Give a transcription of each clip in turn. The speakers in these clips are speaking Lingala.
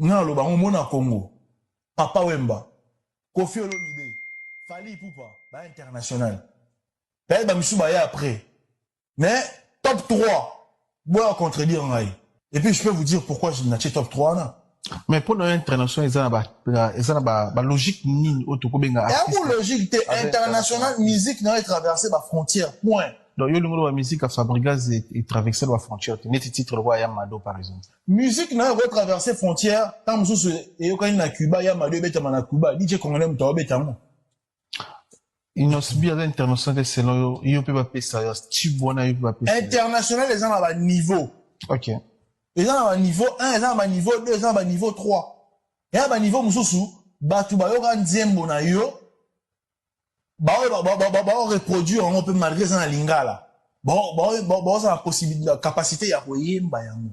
Nga naloba yango mona Congo papa wemba koffi olomide Fally Ipupa ba international peut-etre ba misusu baya après mais top 3 boya contredire ngai et puis je peux vous dire pourquoi je natie top 3 wana mais mpo na yo international eza na ba eza na ba, ba logique nini oyo tokobenga yango logique te international musique na yo etraverse ba frontière point Donc, yo lingolo ba musique à Fabrigaz et, et traverser la frontière. Tu mets titre le roi Yamado, par exemple. Musique na ko traverser frontière, tant mususu eyokani na Cuba, Yamado ebetama na Cuba, DJ Congolais mutu abetango. Inosbi aza international selon yo, yo pe ba pesa ya type wana yo pe ba pesa. International eza na ba niveau. OK. Eza na ba niveau 1, eza na ba niveau 2, eza na ba niveau 3. Ya ba niveau mususu, batu bayoka nzembo na yo, baoyo bao reproduire yango mpe malgré eza na lingala baoza na possibilité capacité ya koyemba yango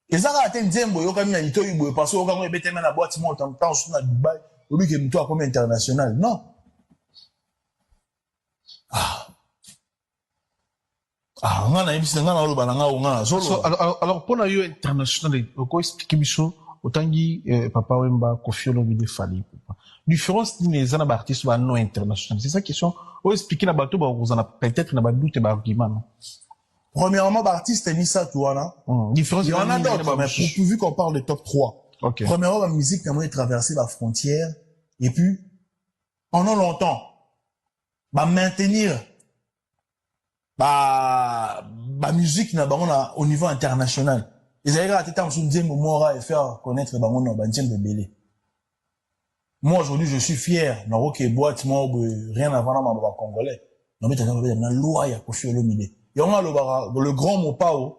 eza kaka te nzembo oyokami na litoi boye parce oyoka yango ebeteme na boite moko ntango ntango susu na dubai obike motu akomi international non ah. Ah, nga nayebisi na nga naoloba na nga o nga nazoloba alors mpo na yo international oko explike biso otangi eh, papa wemba kofi olomide fali différence nini eza na baartiste ba non international c'est ça question o explike na bato bakozala peut-être na badoute baargument no premièrement baartiste misato wana hmm, différence wana d'autres mais pour vu qu'on parle de top 3 okay. premièrement bamusique na moi traverse bafrontière et puis pendant longtemps ba maintenir ba ba musique na bango na au niveau international ezali kaka te ntango mosusu nzembo mora efaire connaître bango na banzembo ebele moi aujourd'hui je suis fier nakoke boite moko boye rien avant na maloba congolais nabetaka babeta na loi ya kofi olomide yango alobaka le grand mopao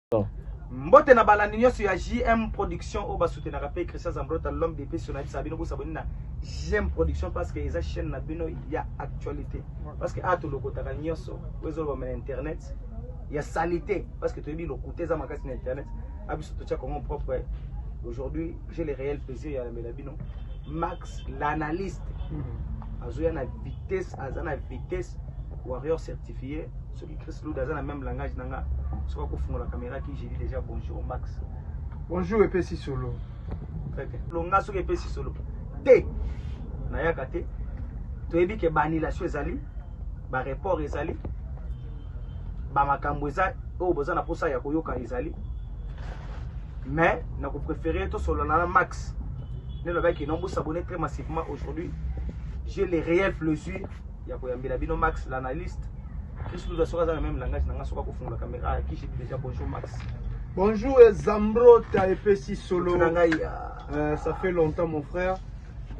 mbote na balandi nyonso ya jm production oyo basutenaka mpe christian zambrota l'homme de peso nayebisaka bino bosaboni na jm production parce que eza chaîne na bino ya actualité parce que awa tolokotaka nyonso oyo ezolobama na internet ya salite parce que toyebi lokuta eza makasi na internet a biso totya kongo propre aujourd'hui j'ai le réel plaisir ya lambela bino max l'analyste hmm. azoya na vitesse aza na vitesse warrior certifié Chris Luda aza na même langage na nga soki akofungola kamera ki j'ai dit déjà bonjour Max bonjour epesi solo longa soki epesi solo te nayaka te toyebi ke baannulation ezali bareport ezali bamakambo eza oyo boza na mposa ya koyoka ezali mais nakoprefere tosolola na max nde lobaki non bosabone très massivement aujourd'hui j'ai les réelles plaisir ya koyambela bino max l'analyste kristu luza soki aza na meme langage na nga soki akofungola kamera ayakisi déjà bonjour max bonjour zambrota epesi solo na ngai euh, ça fait longtemps mon frère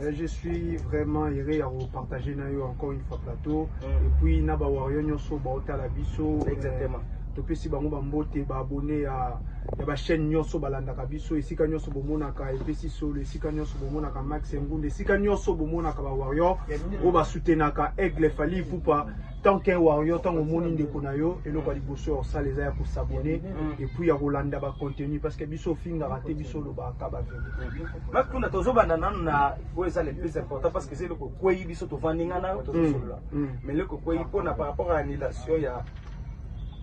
euh, je suis vraiment heureux ya kopartage na yo encore une fois plateau mm. et puis na bawario nyonso baotala biso exactement euh, topesi bango bambote baabone ya ya ba chaîne nyonso balandaka biso esika nyonso bomonaka epesi solo esika nyonso bomonaka max engunda esika nyonso bomonaka ba warrior oyo basutenaka aigle fali ipupa tant qu'un warrior ntango omoni ndeko na yo eloko ya liboso ya kosala eza ya kosabone epuis ya kolanda bacontenu parce que biso ofingaka te biso olobaka baverité makunda tozobanda nanu na oyo eza le plus important parce que eza eloko ekwei biso tovandi ngai nayo tozosolola mais eloko ekwei mpona par rapport ya annulation ya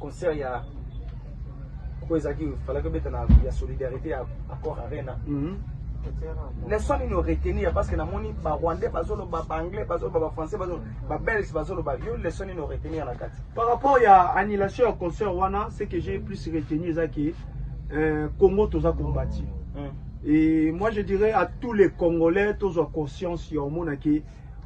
concert ya oyo ezalaki falaki obeta na ya solidarité ya accord arena mhm. leson nini oretenir parce que namoni barwandais bazoloba baanglais bazoloba bafrançais babelge bazoloba yo leson nini oretenir na kati par rapport ya annulation ya concert wana ce que j'ai plus retenu eza ke euh, congo toza combati mm. et moi je dirais à tous les congolais tozwa conscience ya omonaki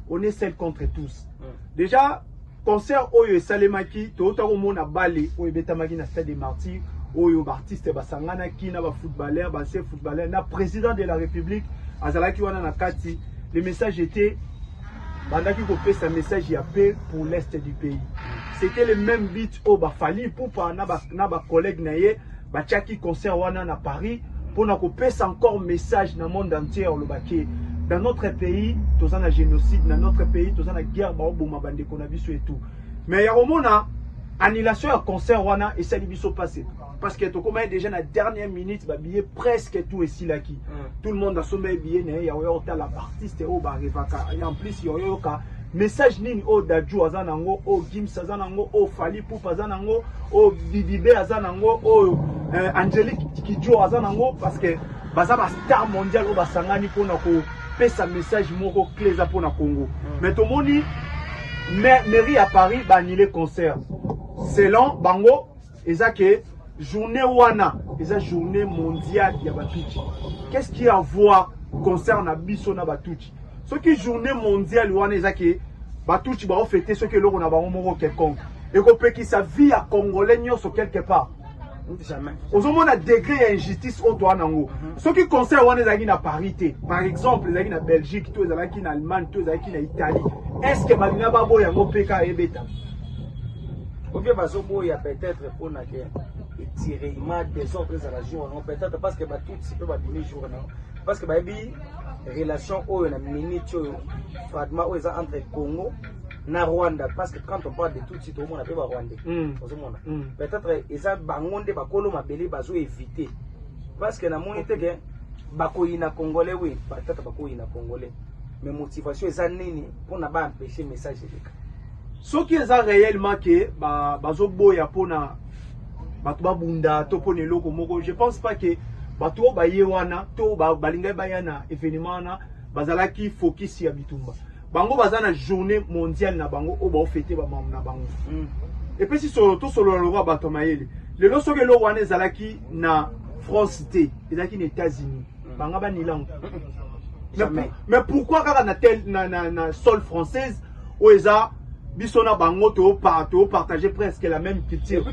on est seul contre tous déjà concert oyo esalemaki touta komona bale oyo ebetamaki na stade de martyr oyo baartiste basanganaki na bafootballeur base footballeur na président de la république azalaki wana na kati le message était bandaki kopesa message ya paix pour l'est du pays c'était le même but oyo bafali ipupa na bacollègue na ye Batiaki concert wana na Paris pona kopesa encore message na monde entier oloba ke dans notre pays toza na génocide na notre pays toza na guerre baoboma bandeko na biso etu mais ya komona annulation ya concert wana esali biso pase parce que tokomaki déjà na dernière minute babillet presque tout esilaki mm. tout le monde asombaki billet na ye ya oyo otala baartiste oyo barevaka en plus ya oyoyoka Message nini oyo Dadju aza nango, oyo Gims aza nango, oyo Fally Ipupa aza nango, oyo Bibibe aza nango, oyo euh, Angelique Kidjo aza nango parce que baza ba star mondial oyo basangani mpona kopesa message moko clé eza mpona Congo. Mm. Mais tomoni mairie ya Paris ba annule concert selon bango Eza que journée wana eza journée mondiale ya batuti. Qu'est-ce qui a voir concerne na biso na batuti? Soki journée mondiale wana eza que batuti ba ofete soki eloko na bango moko quelconque ekopekisa vie ya congolais nyonso quelque part ozomona degre ya injustice oyo toa nango mhm. soki conseil wana ezalaki na paris te par exemple ezalaki na belgique to ezalaki na allemagne to ezalaki na italie est ce que balinga baboya yango mpe ka ebeta Ou bien bazoboya peut-être mpo na ke etirema desordre ezala jour yango peut-être parce que batutsi mpe babimi jour yango parce que bayebi relation oyo na minute oyo fragment oyo eza entre congo na rwanda parce que quand on parle de tutsi tokomona mpe barwandais mm. ozomona mm. peut-être eza bango nde bakolo mabele bazoevite parce que namoni te ke bakoyina congolais oui peut-être bakoyina congolais mais motivation eza nini mpona baempeshe message eleka soki eza réellement ke bazoboya mpona bato babunda to mpona eloko moko je pense pas ke bato oyo baye wana to balingaki baya na événement wana bazalaki focus ya bitumba bango baza na journée mondiale na bango oyo baofete bamambo na bango mm. epesi solo tosolola lokola bato ya mayele lelo soki eloko wana ezalaki na france te ezalaki na états-unis banga banilango mais, mais pourquoi kaka na, tel, na, na, na sol française oyo eza biso na bango topartage presque la même culture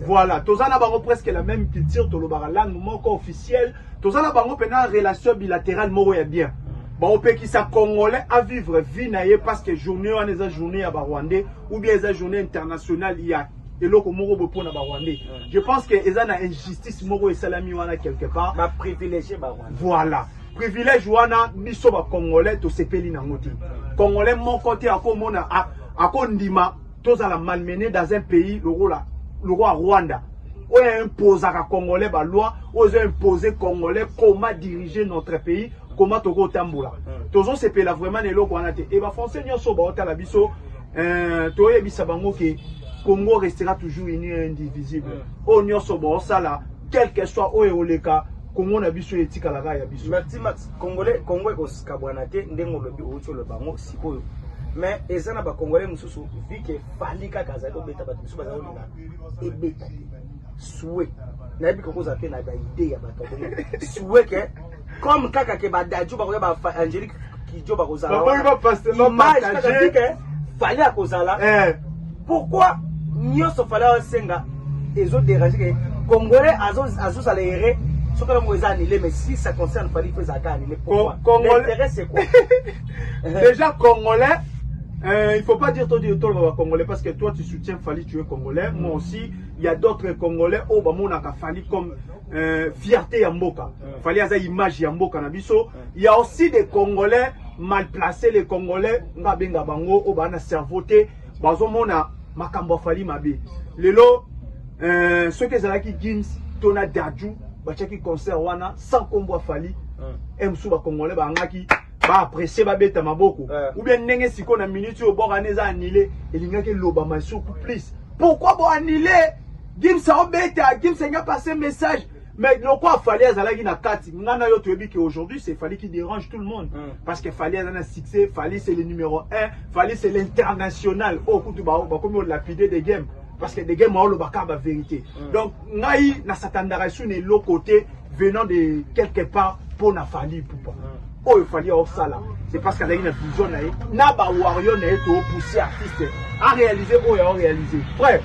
voilà toza na bango presque la même culture tolobaka langue moko officielle toza na bango mpena relation bilatérale moko ya bien baopekisa congolais avivre vie na ye parce que journée wana eza journée ya barwandais ou bien eza journée internationale ya eloko moko boye mpona barwandais mm. je pense que eza na injustice moko esalami wana quelque part baprivilégie barwandais voilà privilège wana biso bacongolais tosepeli nango te congolais moko te akomona akondima tozala malmene dans un pays lokola lokola rwanda oyo imposaka congolais baloi oyo ezo impose congolais comment diriger notre pays comment tokotambola mm. tozosepela vraiment na eloko wana te e bafrançais nyonso baotala biso Euh, toyebisa bango ke Congo restera toujours uni et indivisible. Mm. Oyo nyonso bosala quelque soit oyo oleka Congo na biso etikala kaka ya biso. Merci Max. Congolais Congo ekosikabwana te ndenge olobi outi oloba yango sikoyo. Mais eza na ba Congolais mosusu vu que Fally kaka azali kobeta bato mosusu bazali kolinga ebeta te. Souhait. nayebi kokozala mpe na baide ya bato ya bongo suweke comme kaka ke ba dadju bakoya ba angelique kidjo bakozala image kaka tike fali akozala eh. pourquoi nyonso fali asenga ezo dérange ke congolais azozala ere soki yango eza annulé mais si ça concerne fali mpo ezalaka annulé pourquointérêt c'est quoi déjà congolais Euh, il faut pas dire toi dire toi le congolais parce que toi tu soutiens Fali tu es congolais mm. moi aussi il y a d'autres congolais au oh, bah mon a Fali comme euh, fierté ya mboka fali aza image ya mboka na biso ya aussi des congolais mal placé les congolais nga abenga bango oyo baa na cerveau te bazomona makambo afali mabe lelo euh, soki ezalaki gims to na daju batiaki concert wana sans kombo afali e mosusu bacongolais baangaki baaprecie babeta maboko ou bien ndenge sikoyo na minute oyo bokana eza anile elingaki elobama suku plus pourquoi boanile Gims obeta, Gims anya passe message. Mais lokwa Fally azalaki na kati, nga na yo toyebi que aujourd'hui c'est Fally qui dérange tout le monde. Mm. Parce que Fally aza na succès, Fally c'est le numéro 1, Fally c'est l'international. Oh kutu ba ba komi lapide de game parce que de game aolo ba ka ba vérité. Mm. Donc ngai na satandaka sur ne l'autre côté venant de quelque part pour na Fally poupa. Mm. oyo fali aosala c'est parce qu'azalaki na vision na ye na ba warrior na ye toopousse artiste a réalise oyo ao réalise frère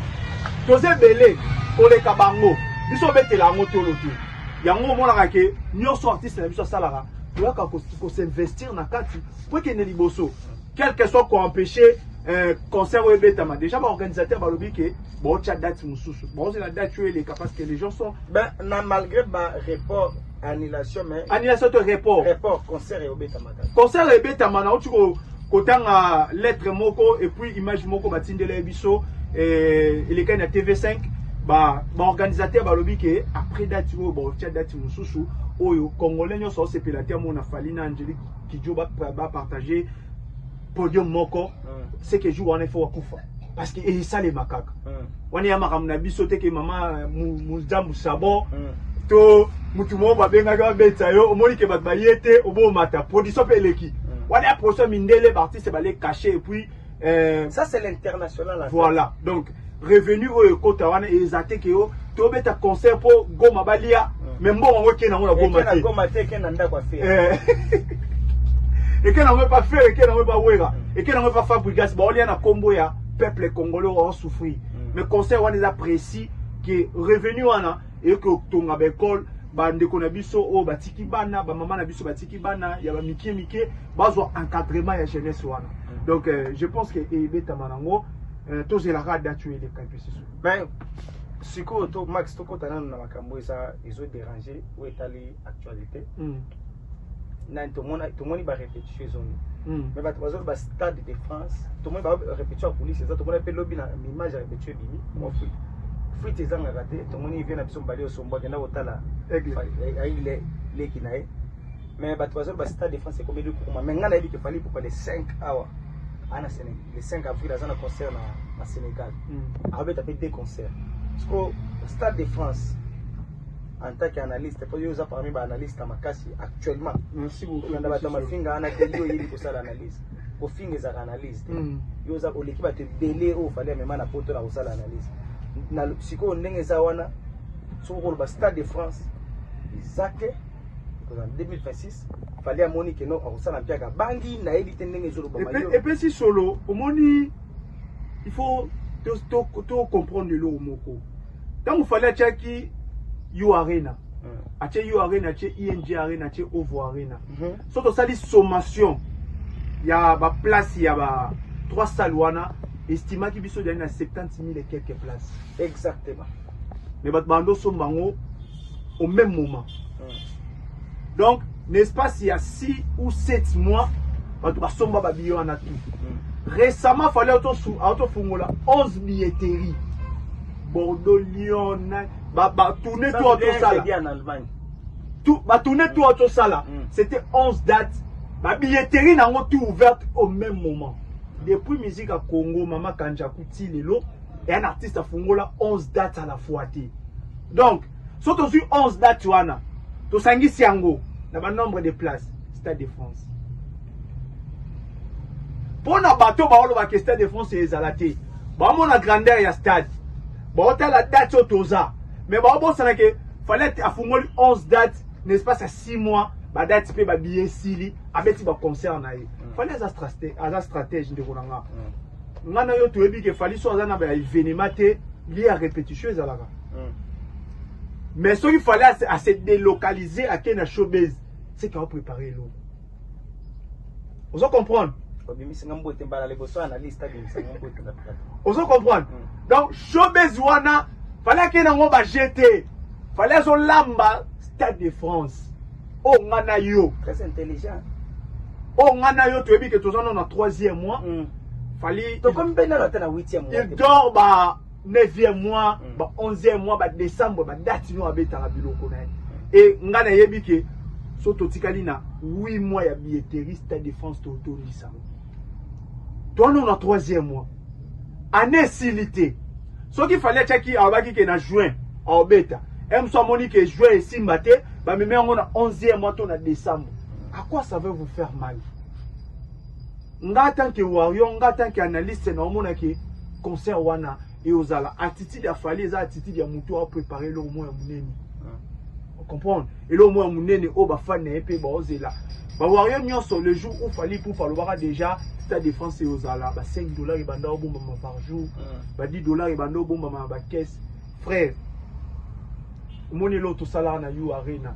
toza ebele koleka bango biso obetela yango tolo te yango omonaka ke nyonso artiste na biso asalaka toyaka kosinvestir na kati po ekende liboso quelque soit koempêche euh, concert oyo ebetama déjà baorganisateur balobi ke baotya date mosusu baozela date oyo eleka parce que les gens sont ben na malgré ba report annulation mais annulation to report report concert ebetamaka concert ebetama na uti ko kotanga lettre moko et puis image moko batindela ye biso eh, elekani na tv5 baorganisateur ba balobi ke après dati oyo baotya dati mosusu oyo congolais nyonso aosepela te amona fali na angelique kidjo bapartage ba podium moko c'est que jour wana faut akufa parce que esalema kaka wana ya makambo na biso te ke mama muzambu sabon to mutu moko babengaki babetisa yo omoni ke bato baye te obomata production mpe eleki wana ya production mindele baartiste bale cache epuis euh, ça c'est l'international voilà donc revenu oyo ekota wana eza te ke yo tobeta concert mpo goma balia mm. me mbongo yango ekei nango na goma te goma te ekei na ndako ya fere eh. ekei nango epa fere ekei nango epa wera mm. ekei nango epa fabrigas baolia na nkombo ya peuple congolais oyo asouffrir mm. mais concert wana eza précis ke revenu wana eyoki kotonga baekole bandeko na biso oyo batiki bana bamama na biso batiki bana ya bamike mike bazwa encadrement ya jeunesse wana donc euh, je pense ke ebetama nango Eh, tozela kaka date oyo eleka mpe sisu mais sikoyo to max tokota nano na makambo eza ezo déranger oyo etali actualité mm. nani tomona tomoni ba répétition ezongi mm. mais bato bazoloba ba stade de france tomoni ba répétition ya police eza tomoni mpe lobi na image ya répétition ebimi mwa mm. fuite fuite ezangaka te tomoni vie na biso mbali osombo akenda kotala aigle leki na ye Mais bato bazali ba stade de France ekomeli kokoma mais ngai nayebi ke Fally Ipupa le 5 awa ana Sénégal le 5 avril aza na concert na, na Sénégal mm. abeta mpe deux concerts siko stade de France en tant qu'analyste mpo yo oza parmi baanalyste ya makasi actuellement kolanda bato ya mafinga ana kendi oyebi kosala analyse kofinga ezalaka analyse te mm. yo oza oleki bato ebele oyo ofali amema na poto na kosala analyse sikoyo ndenge eza wana soki okoloba stade de France eza te ekozala 2026 fali amoni keno akosala mpe aka bangi nayebi te ndenge ezolobaepesi solo omoni il faut tocomprendre eloko moko ntango fali atiaki yo arena hmm. atie yo arena atie ing e arena atie ovo arena mhm. so tosali sommation ya baplace ya ba trois salle wana estimaki biso ezali na 70 000 et quelques places exactement mais bato bando somba yango au même moment donc na espace ya 6 ou 7 mois bato basomba babiye wana tout récemment fale aotofungola 11 billetterie bordeaux lyon batourne to atosala batourne to atosala c'était 11 dates babilletterie na yango tout ouverte au même moment depuis musique ya congo mama kanjaku ti lelo un artiste afungola 11 dates à la fois te donc so tozwi 11 date wana tosangisi yango na banombre de place stade de france mpo na bato baolobaka stade de france ezala te baomona grandeur ya stade baotala date oyo toza me baobosana ke falete afungoli 11 date na espace ya 6 mois badati mpe babiye esili abeti baconcert na ye mm. fali aza stratège ndeko na nga mm. nga na yo toyebi ke fali so aza na ba evenema te lie ya repetition ezalaka hmm. mais soki fali ase délocaliser ake na showbase seke aoprépare eloko ozo comprendre obimisanga mbote mbala liboso analyste abimisanga mbote na plateau ozo comprendre hmm. donc showbiz wana fallait ake nango ba jete fallait azolamba stade de france Oh nga na yo. Très intelligent. Oh nga na yo toyebi que toza na troisième mois. Mm. Fali. Tokomi mpe nano ata na huitième mois. Il dort ba neuvième mois, mm. ba onzième mois, ba décembre, ba date nyo abetaka biloko na ye. Et nga nayebi que so totikali na 8 mois ya billetterie Stade de France totondisa. toano na troisième mois année esili te soki fali atiaki alobaki ke na juin aobeta emso amoni ke juin esimba te bamemi yango na 11e mois to na décembre à quoi ça veut vous faire mal nga tant que warrior nga tant que analyste naomona ke concert wana eozala attitude ya fali eza attitude ya moto a prepare eloko moko ya monene comprendre eloko moko ya monene oyo bafani na ye mpe baozela bawario nyonso le jour où fali poupe alobaka déjà stade de france eozala ba 5 dollars ebanda obombama par jour ba 10 dollars ebanda obombama na bacaisse frère omoni eloko tosalaka na u arena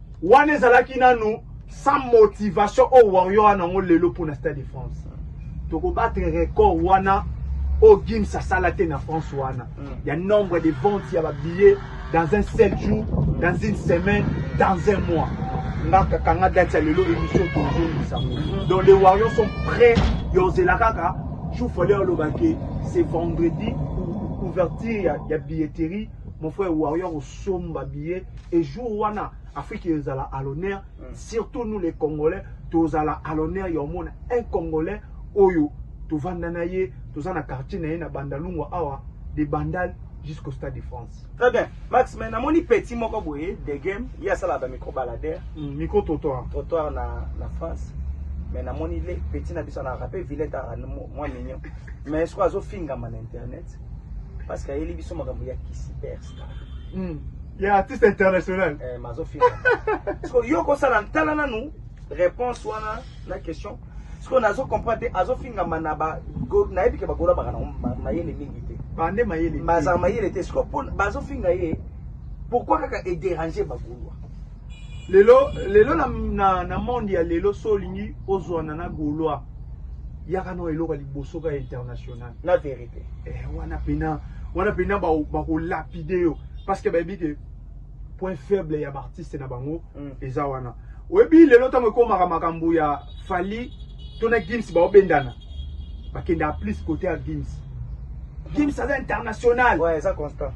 Wana ezalaki nanu sans motivation au oh, Warrior a nango lelo pour na Stade de France. Toko battre record wana au oh, Gims asala te na France wana. Il y a nombre de ventes ya ba billets dans un seul jour, dans une semaine, dans un mois. Nga kakanga date ya lelo émission tozo misango. Donc les Warriors sont prêts yozela kaka jour fallait aloba ke c'est vendredi ouverture ya, ya billetterie mon frère Warrior osomba billet et jour wana Afrique ezala à l'honneur mm. surtout nous les Congolais tozala à l'honneur ya omona un Congolais oyo tovanda na ye toza na quartier na ye na Bandalungwa awa de Bandal jusqu'au stade de France. Très bien. Max, mais namoni petit moko boye de game, il y a ça là ba micro baladeur, mm, micro trottoir. Trottoir na na France. Mais namoni les petits na biso na rapé Villette à moi mignon. Mais est-ce qu'on a zo finga man internet? Parce qu'il y a les biso makambo ya kisi perse. mm. ya artiste international eh, mazofika siko yo kosala ntala nanu réponse wana na question siko nazo comprendre te azofingama na ba nayebi ke bagola baka nango mayele mingi te bande mayele bazala mayele te siko bazofinga ye pourquoi kaka ederange bagolo lelo lelo na, na, na monde ya lelo so olingi ozwana na gaulois yaka na eloko ya liboso ka international na verite eh, wana pena wana pena bakolapide ba yo parce que bayebi ke point faible ya baartiste na bango mm. eza wana oyebi lelo ntango ekomaka makambo ya fali to na Gims baobendana bakenda plus kote ya Gims Gims aza international ouais, eza constant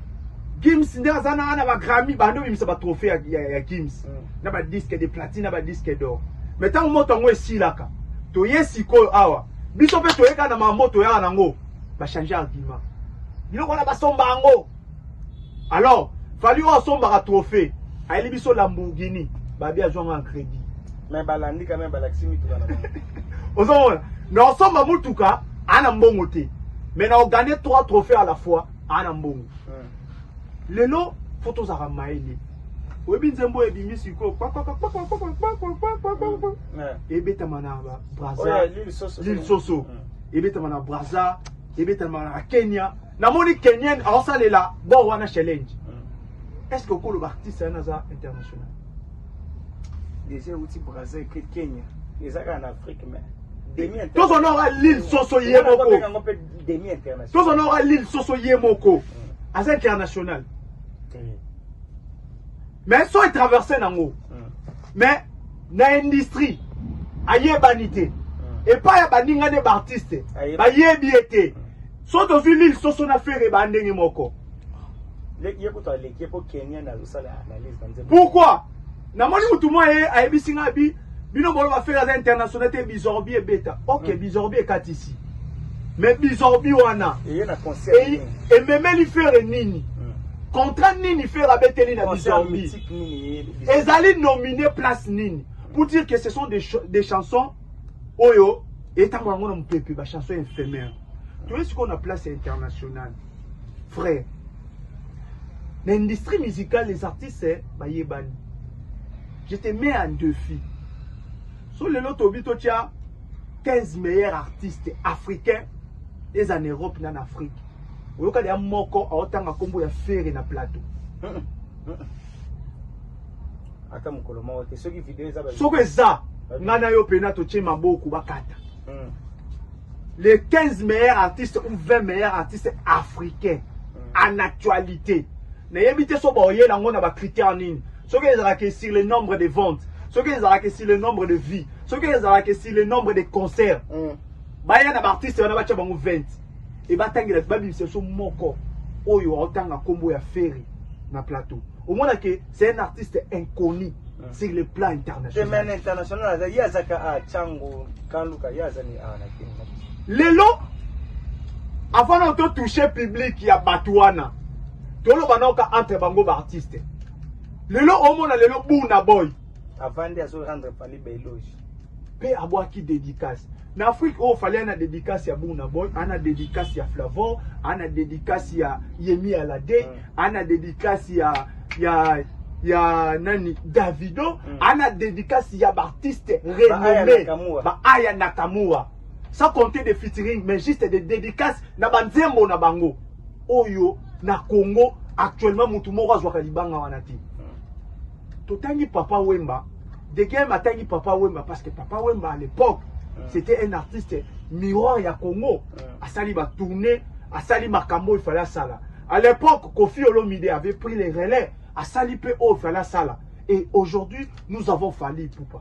Gims nde aza na na bagrammy bando bimisa batrophée ya, ya, ya Gims mm. na badisque de platine na badisque d'or mais ntango moto yango esilaka toye sikoyo awa biso mpe toyekana mambo toyaka nango bachange argument biloko wana basomba yango Alors, Fally oyo asombaka trophée, ayeli biso Lamborghini, babi azwanga en crédit. Mais balandi quand même balakisi mituka na bango. Ozomona, na osomba mutuka ana mbongo te. Mais na ogagner trois trophées à la fois ana mbongo. Hmm. Lelo faut tozaka maele. oyebi nzembo ebimi sikoyo ebetama na braza lil soso ebetama na braza ebetamaka na kenya namoni kenyen aosalela bor wana challenge est ce que okoloba artiste yana aza international déjà euti braza eke kenya eza kaka na afrique mais tozonora lille soso ye moko tozonora lille soso ye moko aza international mais so etraverse nango mais na industrie ayebani te hmm. epai ya baninga nde baartiste bayebi ye te hmm. so tozwi lile soso na fere baa ndenge moko pourkui namoni motu mwa ye ayebisi ngai bi bino boloba fere aza international te bizorbi ebeta ok hmm. bizorbi ekatisi mais bizorbi wana ememeli fere nini contrat nini fere abeteli na bizorbi Ezali nomine place nini? Pour dire que ce sont des, ch des chansons oyo etango yango na mopepe ba chansons éphémères. Toye sikoyo na place ya internationale. Frère, na industrie musicale les artistes bayebani. Je te mets en défi. So lelo tobi totya 15 meilleurs artistes africains eza en Europe na na Afrique. Oyoka ya moko aotanga kombo ya Ferre na plateau. ata mokolo moko te soki video eza soko eza ngai na yo mpena totie maboko bakata hmm. les 15 meilleurs artistes ou 20 meilleurs artistes africains hmm. en actualité nayebi te so baoyela yango na bacritère nini soki ezalaka sur le nombre de ventes soki ezalaka sur le nombre de vie soki ezalaka sur le nombre de concert hmm. baya na baartiste wana batya bango 20 Et batangela ba bimisa so moko oyo aotanga kombo ya Ferry na plateau. Omona que c'est un artiste inconnu mm. sur le plan international. Même international aza yazaka a Chango Kanduka yazani a na Kenya. Lelo avant na to toucher public ya Batuana. Tolo banoka entre bango ba artistes. Lelo omona lelo Buna Boy avandi azo rendre fali ba eloge pe abwaki dedicace na afrique oyo oh, fali ana dedicace ya buna boy ana dedicace ya flavor ana dedicace ya yemi alade mm. ana dedicace ya ya ya nani davido mm. ana dedicace ya baartiste renommé baaya nakamura sans compter de featuring mais juste de dedicace na banzembo na bango oyo na congo actuellement motu moko azwaka libanga wana te Totangi Papa Wemba, Degem atangi Papa Wemba parce que Papa Wemba à l'époque, mm. c'était un artiste miroir ya Congo. Mm. Asali ba tourner, asali makambo il fallait sala. À l'époque, Kofi Olomide avait pris les relais, asali pe o fallait sala. Et aujourd'hui, nous avons fallu Poupa.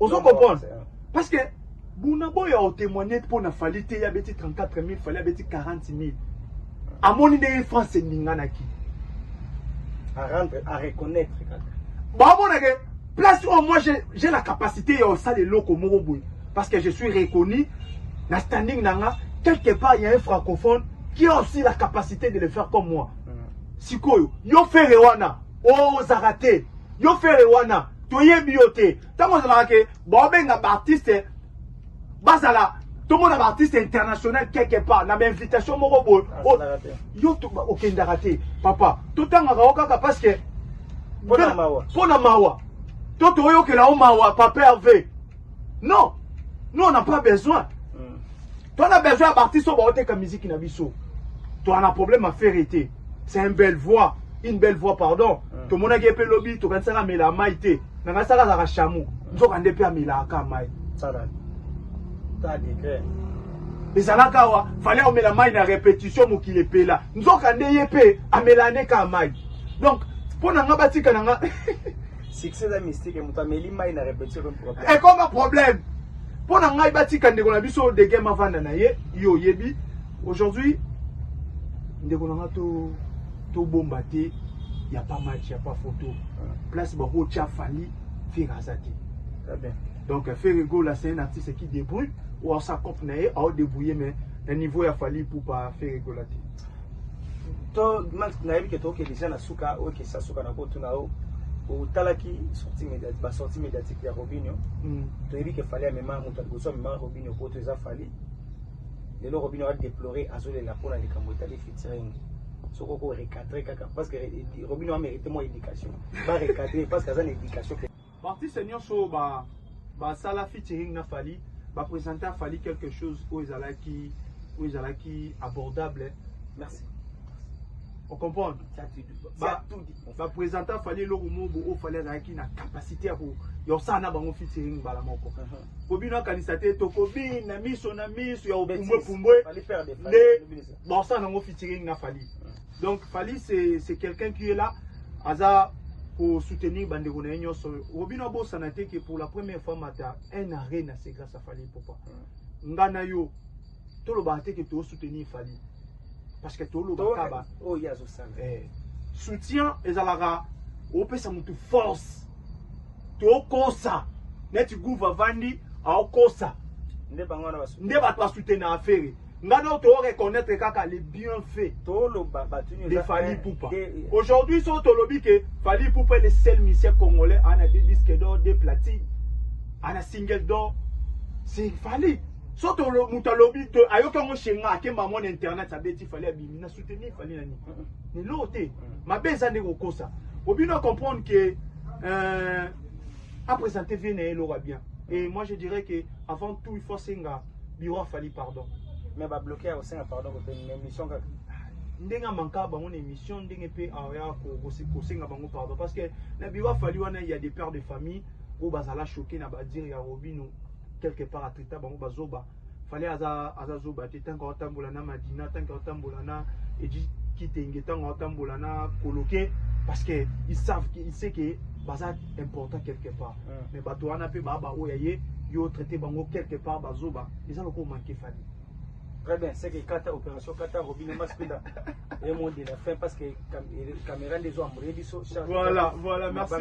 ozo comprendre parce que buna boya otemoigne mpo na fali te ya beti 34 000 fali abeti 40 000 amoni ndenge france eninganaki areconnaitre kaka baomona ke place oyo moi j'ai la capacité ya osala eloko moko boye parce que je suis reconnu na standing na nga quelque part ya un francophone qui a aussi la capacité de le faire comme moi mm. sikoyo yo fere wana Oh ozaka te yo fere wana toyebi yo te ntango ozalaka ke baobenga baartiste bazala tomona baartiste international quelque part na bainvitation moko boye oh, yo okendaka te papa totangaka yo kaka parce que mpo na mawa to toyokela yo mawa papa herve non nous on n'a pas besoin Toi na besoin ya b'artiste oyo baoteka musique na biso. Toi na problème à faire été. C'est une belle voix, une belle voix pardon. Mm. Tomonaki ye mpe lobi tokanisaka amela mai te. Nangasaka azalaka chameau. Nzoka nde mpe amelaka mai. Sala. Ta degré. ezalaka awa fale omela mai na repetition mokili epela nzoka nde ye mpe amela nde kaka mai donc mpo na nga batika na nga Succès eza mystique, moto ameli mai na repetition comme problème. Ekoma problème. Mpo na ngai batika ndeko na biso de game avanda na ye, yo oyebi. Aujourd'hui ndeko na ngai to tobomba te ya pas match ya pas photo. Place bakotya Fally Ferre aza te. Très bien. Donc Ferre Gola c'est un artiste qui débrouille ou sa cop na ye ao débrouiller mais na niveau ya Fally Ipupa Ferre Gola te. to nayebi ke toke deja na suka oyo kesa suka na kotuna yo otalaki sortie médiatique ba sortie médiatique ya Robinho mm. toyebi ke fali amema moto ya liboso amema Robinho poto eza fali lelo Robinho a déplorer azolela mpona likambo etali featuring soki oko recadre kaka parce que Robinho amerite mwa éducation ba recadre parce que aza na éducation Ba artistes nionso oyo ba ba sala featuring na Fally ba presenter à Fally quelque chose oyo ezalaki oyo ezalaki abordable. Merci. On comprend Ba, ba presenter Fally eloko moko oyo Fally azalaki na capacité ya ko ya osala na bango featuring mbala moko. Uh -huh. Po bino akanisa te tokobina miso na miso ya opumbwe pumbwe nde baosala nango featuring na Fally. Donc Fally c'est quelqu'un qui est là aza ko soutenir bandeko na ye nyonso oyo obino abosana te que pour la première fois mata un arena c'est grâce à Fally Ipupa nga na yo tolobaka te que to soutenir Fally parce que tolobaka ba oyo oh, ye azosala eh. soutien ezalaka opesa motu force tokosa neti guva vandi aokosa nde bato basoutenaka ferre nga nao to reconnaitre kaka les bienfaits toloba batu nyo de Fally Ipupa aujourd'hui so tolobi que Fally Ipupa est le seul musicien congolais ana deux disques d'or deux platines ana single d'or c'est Fally so to moto alobi te ayoki yango shenga akemba mona internet abeti fali abimi na soutenir fali na nini lelo te mabe eza nde kokosa obino acomprendre que euh, apresente vie na ye eloko ya bien et moi je dirais que avant tout il faut asenga Bureau ya Fally pardon. Mais ba bloquer ya kosenga pardon ko teni mais mission kaka. Ndenge manka bango na émission ndenge pe aya ko ko senga bango pardon parce que na bureau ya Fally wana il y a des pères de famille où bazala choqué na ba dire ya Robino quelque part atrita bango bazoba. Fally aza aza zoba te tant qu'on tambola na Madina tant qu'on tambola na et dit kitenge ntango atambola na koloke parce que ils savent ils sait que baza important quelque part ah. mais bato wana mpe baa baoyo ya ye yo traite bango quelque part bazoba eza lokola manke fani très bien c'est que kata opération kata robine maspida et mon de la fin parce que caméra des hommes biso voilà voilà merci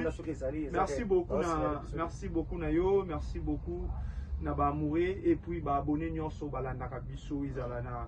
merci beaucoup na merci beaucoup na yo merci beaucoup na ba amoureux et puis ba abonnés nyonso balandaka biso ezala na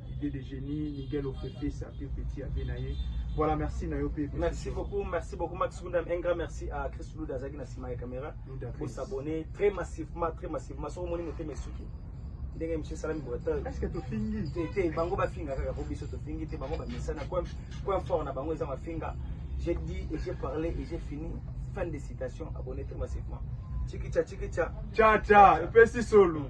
idée de génie Miguel Ofefe sa pe petit abe na ye voilà merci na yo pe merci beaucoup merci beaucoup Max Gundam un grand merci à Chris Luda azaki na sima ya caméra pour s'abonner très massivement très massivement soko moni motema esuki ndenge monsieur salami breton est-ce que tofingi te te bango bafinga kaka po biso tofingi te bango bamesana coin coin fort na bango eza mafinga j'ai dit et j'ai parlé et j'ai fini fin de citation abonné très massivement chikicha chikicha cha cha epesi solo